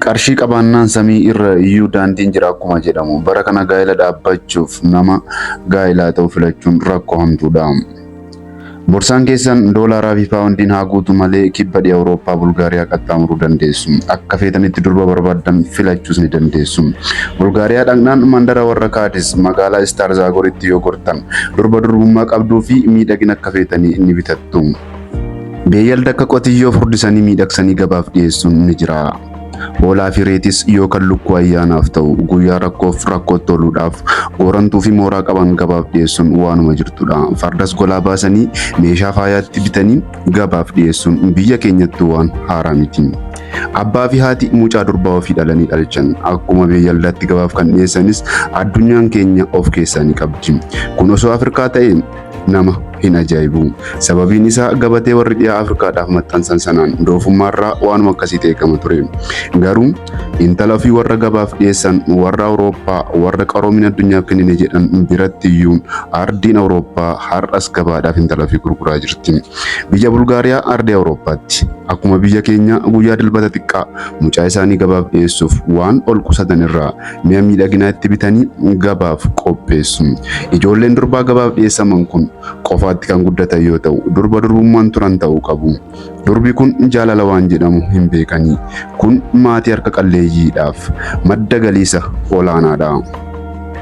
Qarshii qabaannaan samii irra iyyuu daandiin jira akkuma jedhamu bara kana gaa'ila dhaabbachuuf nama gaa'ilaa ta'u filachuun rakkoo hamtuudha. Borsaan keessan doolaaraa fi paawundiin haa guutu malee kibba dhiha Awurooppaa Bulgaariyaa qaxxaamuruu dandeessu. Akka feetanitti durba barbaaddan filachuus ni dandeessu. Bulgaariyaa dhaqnaan mandara warra Kaadis magaalaa Istaar Zaagoritti yoo gortan durba durbummaa qabduu fi miidhagina akka feetanii ni bitattu. Beeyalda akka qotiyyoo furdisanii miidhagsanii gabaaf dhiyeessuun ni jira. Hoolaa fi reetis yookaan lukkuu ayyaanaaf ta'u guyyaa rakkoof rakkootti ooluudhaaf goorantuu fi mooraa qaban gabaaf dhiyeessuun waanuma jirtudha. Fardas golaa baasanii meeshaa faayaatti bitanii gabaaf dhiyeessuun biyya keenyattuu waan haaraa miti. Abbaa fi haati mucaa durbaa ofii dhalanii dhalchan akkuma beeyaldaatti gabaaf kan dhiyeessanis addunyaan keenya of keessaa ni qabdi. Kun osoo Afrikaa ta'e nama hin ajaa'ibu. Sababiin isaa gabatee warri dhiyaa Afrikaadhaaf maxxansan sanaan doofummaarraa waanuma akkasiitu eegama ture. Garuu intala ofii warra gabaaf dhiyeessan warra Awurooppaa warra qaroomina addunyaaf kennine jedhan biratti iyyuu ardiin Awurooppaa har'as gabaadhaaf intala ofii gurguraa jirti. Biyya Bulgaariyaa ardii Awurooppaatti akkuma biyya keenya guyyaa dilbata xiqqaa mucaa isaanii gabaaf dhiyeessuuf waan ol qusatan irraa mi'a miidhaginaa itti bitanii gabaaf qopheessu. Ijoolleen durbaa gabaaf dhiyeessaman kun qofaatti kan guddatan yoo ta'u, durba durbummaan turan ta'uu qabu. Durbi kun jaalala waan jedhamu hin beekanii. Kun maatii harka qalleeyyiidhaaf madda galiisa olaanaadha.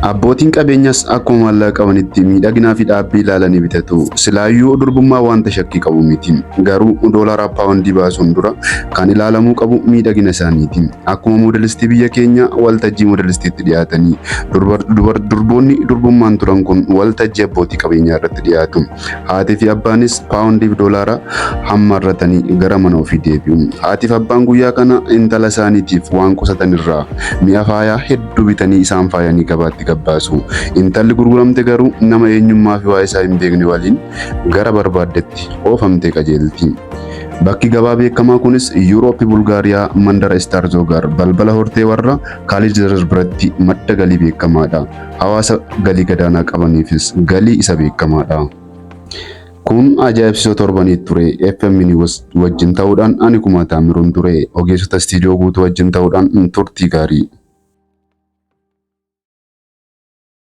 Abbootiin qabeenyas akkuma maallaqa qabanitti miidhaginaa fi dhaabbii ilaalanii bitatu. Silaayyuu durbummaa wanta shakkii qabu miti. Garuu doolaraa paawundii baasuun dura kan ilaalamuu qabu miidhagina isaaniiti. Akkuma moodalistii biyya keenya waltajjii moodalistiitti dhiyaatanii durbar- dubar- durboonni durbummaan turan kun waltajjii abbootii qabeenyaa irratti dhiyaatu. Haatii fi abbaanis paawundiif doolaara hammarratanii gara mana ofii deebi'u. Haatiif abbaan guyyaa kana intala isaaniitiif waan qusatan irraa mi'a faayaa hedduu bitanii isaan faayanii gabaatti gabbaasu. Intalli gurguramte garuu nama eenyummaa fi waa'ee isaa hin beekne waliin gara barbaaddetti oofamtee qajeelti. Bakki gabaa beekamaa kunis Yuurooppi Bulgaariyaa mandara Istaarzogaar balbala hortee warra Kaaliijerer biratti madda galii beekamaadha. Hawaasa galii gadaanaa qabaniifis galii isa beekamaadha. Kun ajaa'ibsiisoo torbanii ture. FM News wajjin ta'uudhaan ani kumaa taamiruun ture. Ogeessota istiidiyoo guutuu wajjin ta'uudhaan turtii gaarii.